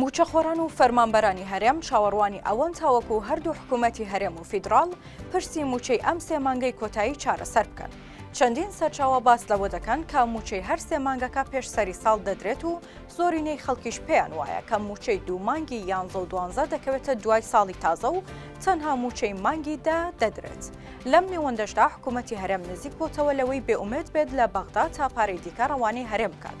مووچەخۆران و فەرمانبەرانی هەرێم چاوەڕوانی ئەوەن تاوەکو هەردوو حکوومەتی هەرێم و فیدراڵ پرسی مووچەی ئەم سێ مانگەی کۆتایی چارەسەر بکەن. چەندین سەرچاوە باس لەوە دەکەن کە مووچەی هەر سێ مانگەکە پێش سەری ساڵ دەدرێت و زۆرینەی خەڵکیش پێیان وایە کە مووچەی دوو مانگی یانزە و دوانزە دەکەوێتە دوای ساڵی تازە و تەنها مووچەی مانگی دە دەدرێت. لەم نێوەندەشدا حکوومەتی هەرێم نزیک بۆتەوە لەوەی بێئومێد بێت لە بەغدا تا پارەی دیکە ڕەوانەی هەرێم بکات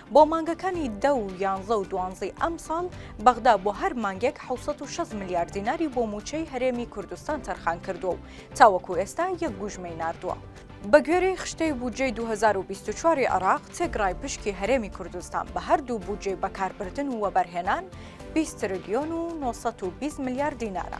بۆ مانگەکانی دە و یانزە و دوانزەی ئەمساڵ، بەغدا بۆ هەر مانگێک حەوت سەد و شەست ملیار دیناری بۆ مووچەی هەرێمی کوردستان تەرخان کردووە و تاوەکو ئێستا یەک گوژمەی ناردووە. بەگوێرەی خشتەی بودجەی دوو هەزار و بیست و چوار ی عێراق، تێکڕای پشکی هەرێمی کوردستان بە هەردوو بودجەی بەکاربردن و وەبەرهێنان بیست ترلیۆن و نۆ سەد و بیست ملیار دینارە.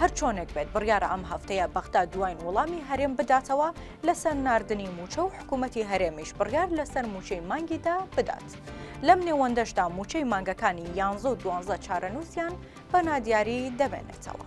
هەرچۆنێک بێت بڕیارە ئەم هەفتەیە بەغدا دواین وڵامی هەرێم بداتەوە لەسەر ناردنی مووچە و حکوومەتی هەرێمیش بڕیار لەسەر مووچەی مانگیدا بدات. لەم نێوەندەشدا مووچەی مانگەکانی یانزە و دوانزە چارەنووسیان بە نادیاری دەمێنێتەوە.